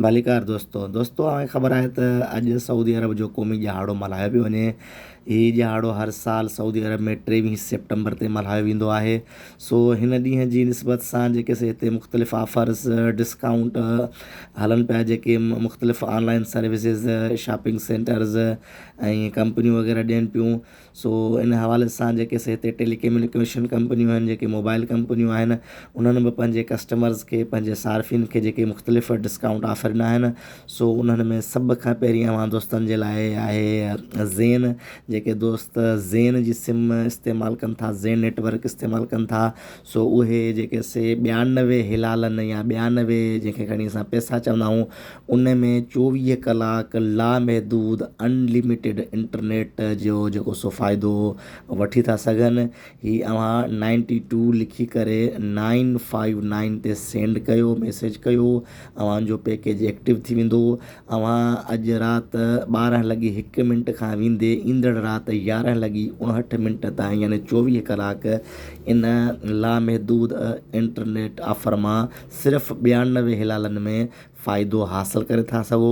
ڀليڪار دوستو دوستو اوهان کي خبر آهي ته اڄ سعودي عرب جو قومي ڏهاڙو ملهايو پيو وڃي هي ڏهاڙو هر سال سعودي عرب ۾ ٽيويهه سيپٽمبر تي ملهايو ويندو آهي سو هن ڏينهن جي نسبت سان جيڪي سي هتي مختلف آفرز ڊسڪائونٽ هلن پيا جيڪي مختلف آنلائن سروسز شاپنگ سينٽرز ۽ ڪمپنيون وغيره ڏين پيون سو ان حوالي سان جيڪي سي هتي ٽيلي ڪميونيڪيشن ڪمپنيون آهن جيڪي موبائل ڪمپنيون آهن انهن به پنهنجي ڪسٽمرز کي پنهنجي صارفين کي جيڪي مختلف ڊسڪائونٽ آفر ڏنا آهن سو انهن ۾ سڀ کان پهرين اوهان دوستن جي لاء آهي زين جيڪي دوست زين جي سم استعمال ڪن ٿا زين نيٽورڪ استعمال ڪن ٿا سو اهي جيڪي سي ٻيانوي هلالن يا ٻيانوي جنهن کي کڻي اسان پيسا چوندا آهيون ان ۾ چوويهه ڪلاڪ لامحدود Unlimited انٽرنيٽ جو جيڪو سو فائدو وٺي ٿا سگهن هي اوهان نائنٽي ٽو لکي ڪري نائن فائيو نائن تي سينڊ ڪيو ميسيج ڪيو اوهان جو پيڪيج ايڪٽو ٿي ويندو. اوهان اڄ رات ٻارهن لڳي هڪ منٽ کان ويندي ايندڙ رات يارهن لڳي اڻهٺ منٽ تائين يعني چوويهه ڪلاڪ ان لامحدود انٽرنيٽ آفر مان صرف ٻيانوي هلالن ۾ فائدو حاصل ڪري ٿا سگهو.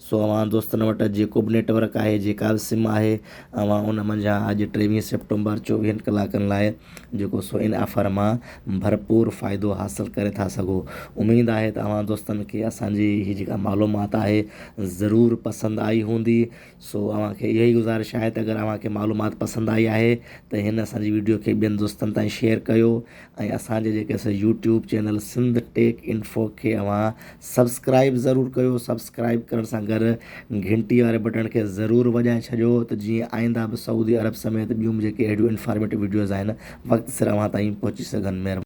سو اوهان دوستن وٽ جيڪو به نيٽ ورڪ آهي جيڪا به سم آهي اوهان ان منجهان اڄ ٽيويهه سيپٽمبر چوويهن ڪلاڪن لاء جيڪو سو ان آفر مان ڀرپور فائدو حاصل ڪري ٿا سگهو اميد آهي ته اوهان دوستن کي اسان جي هي جيڪا معلومات آهي ضرور پسند آئي هوندي سو اوهان کي اها ئي گذارش آهي ته اگر اوهان کي معلومات پسند آئي آهي ته هن اسان جي ويڊيو کي ٻين دوستن تائين شيئر ڪيو ۽ اسان جي جيڪي اسان YouTube channel Sindh tech info کي اوهان سبسڪرائب ضرور ڪيو سبسڪرائب ڪرڻ سان گڏ گهنٽي واري بٽڻ کي ضرور وڄائي ڇڏيو ته جيئن آئنده به سعودي عرب سميت ٻيون به جيڪي اهڙيون انفارميٽو وڊيوز آهن وقت سر اوهان تائين پهچي سگهن مهرباني